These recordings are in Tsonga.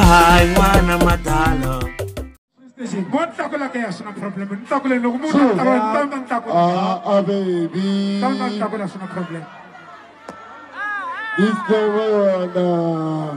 hayi n'wana madala Go takula ke ya sina problem. Takule no kumu takula tamba takula. Ah, ah baby. Tamba takula sina problem. This the way on.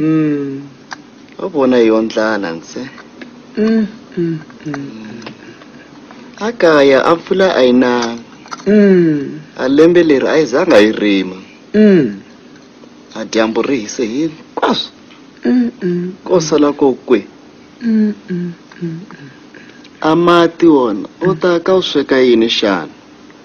Mm. Wa vona hi yo ndlala ntsena. Mm, mm, mm. A kaya a mpfula a yi nanga. Mm. A lembe leri a yi zanga yi rima. Mm. A dyambu ri hise hini? Kwaswo. Mm, mm, Ko sala ko kwe. mm, mm, mm. A mati wona u ta ka u sweka yini xana?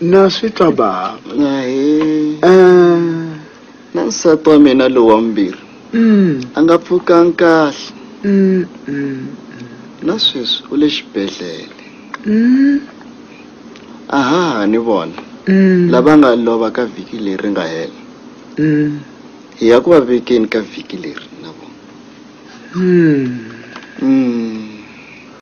na swi twa bava na he um na nsati wa mina lowa mbirhi mm, a nga pfukanga kahle mm, mm, na sweswi u le xibedhlele mm, a ha ha ni vona mm, lava nga lova ka vhiki leri nga hela mm, hi ya ku va vekeni ka vhiki leri na vona mm. mm.